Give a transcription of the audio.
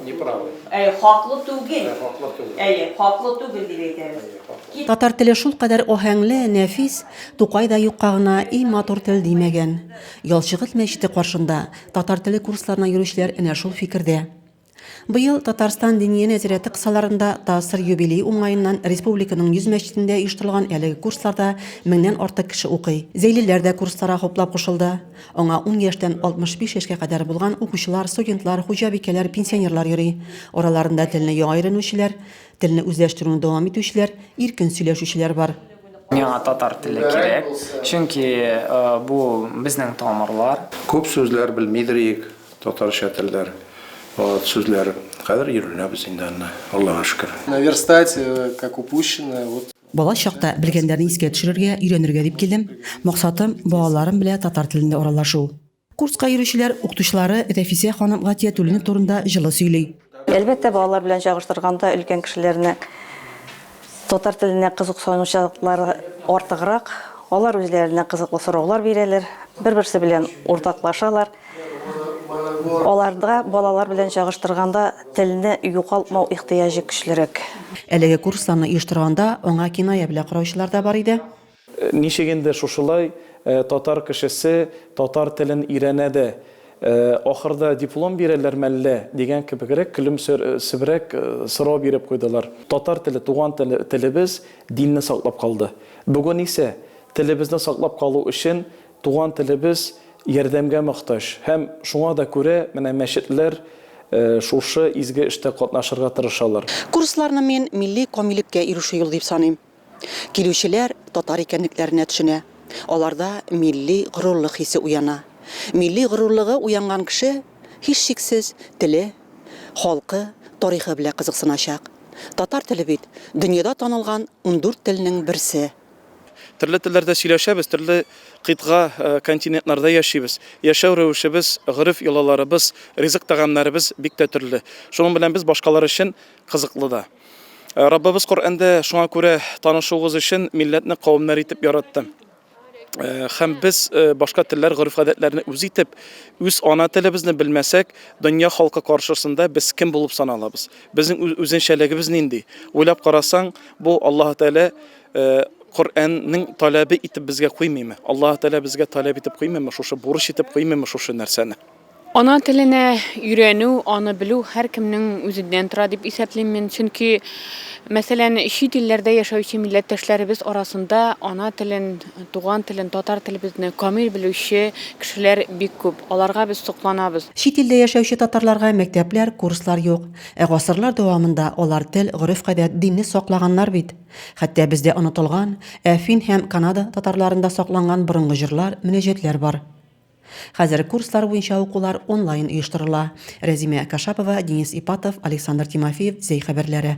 Неправый. Әйе, хаклы түгел. Ә, хаклы түгел. Әйе, хаклы түгел дип әйтәбез. Әйе, хаклы. Кит- Татар теле шул кадәр аһәңле, нәфис, Тукай да юкка гына и матур тел димәгән. Ялчыгыз мәчете каршында татар теле курсларына йөрүчеләр энә шул фикердә. Быел Татарстан Диния нәзарәте кысаларында ТАССР юбилее уңаеннан республиканың 100 мәчетендә оештырылган әлеге курсларда меңнән артык кеше укый. Зәйлеләр дә курсларга хуплап кушылды. Аңа ун яшьтән 65 яшькә кадәр булган укучылар, студентлар, хуҗабикәләр, пенсионерлар йөри. Араларында телне яңа өйрәнүчеләр, телне үзләштерүне дәвам итүчеләр, иркен сөйләшүчеләр бар. Миңа татар теле кирәк, чөнки бу безнең тамырлар. Күп сүзләр белмидер идек, татарча телләр, сүзләр. Хәзер өйрәнәбез инде аны, Аллага шөкер. Наверстать как упущенное. Бала чакта белгәннәрне искә төшерергә, өйрәнергә дип килдем. Максатым, балаларым белә татар телендә аралашу. Курска йөрүчеләр укытучылары Рәфисә ханым Гатиятуллина турында җылы сөйли. Әлбәттә, балалар белән чагыштырганда, өлкән кешеләрнең татар теленә кызыксынучылыклары артыграк. Алар үзләренә кызыклы сораулар бирәләр, бер-берсе белән уртаклашалар. Аларда балалар белән чагыштырганда телне югалтмау ихтыяҗы көчлерәк. Әлеге курсларны оештырганда аңа киная белә караучылар да бар иде. Ничек инде шушылай татар кешесе татар телен өйрәнә дә, ахырда диплом бирәләрме әллә? дигән кебегрәк көлемсерәп сорау биреп куйдылар. Татар теле, туган телебез, динне саклап калды. Бүген исә телебезне саклап калу өчен Туган телебез ярдәмгә мохтаҗ һәм шуңа да күрә менә мәчетләр шушы изге эштә катнашырга тырышалар. Курсларны мин милли камилеккә ирешү юлы дип саныйм. Килүчеләр татар икәнлекләренә төшенә, аларда милли горурлык хисе уяна. Милли горурлыгы уянган кеше, һичшиксез, теле, халкы, тарихы белә кызыксыначак. Татар теле бит, дөньяда танылган ундүрт телнең берсе. Төрле телләрдә сөйләшәбез, төрле кыйтга, континентларда яшибез. Яшәү рәвешебез, гореф-йолаларыбыз, ризык-тәгамнәребез бик тә төрле. Шуның белән без башкалар өчен кызыклы да. Раббыбыз Коръәндә шуңа күрә танышуыгыз өчен милләтне кавемнәр итеп яратты. Һәм без башка телләр, гореф-гадәтләрне үз итеп, үз ана телебезне белмәсәк, дөнья халкы каршысында без кем булып саналабыз? Безнең үзенчәлегебез нинди? Уйлап карасаң, бу Аллаһы Тәгалә Коръәннең таләбе итеп безгә куймыймы? Аллаһ Тәгалә безгә таләп итеп куймыймы шушы, бурыч итеп куймыймы шушы нәрсәне? Ана теленә өйрәнү, аны белү һәркемнең үзеннән тора дип исәплим мин. Чөнки, мәсәлән, чит илләрдә яшәүче милләттәшләребез арасында ана телен, туган телен, татар телебезне камил белүче кешеләр бик күп. Аларга без сокланабыз. Чит илдә яшәүче татарларга мәктәпләр, курслар юк. Ә гасырлар дәвамында алар тел, гореф-гадәт, динне саклаганнар бит. Хәтта бездә онытылган, ә фин һәм Канада татарларында сакланган борынгы җырлар, мөнәҗәтләр бар. Хәзер курслар буенча укулар онлайн оештырыла. Рәзимә Кашапова, Денис Ипатов, Александр Тимофеев, Зәй хәбәрләре.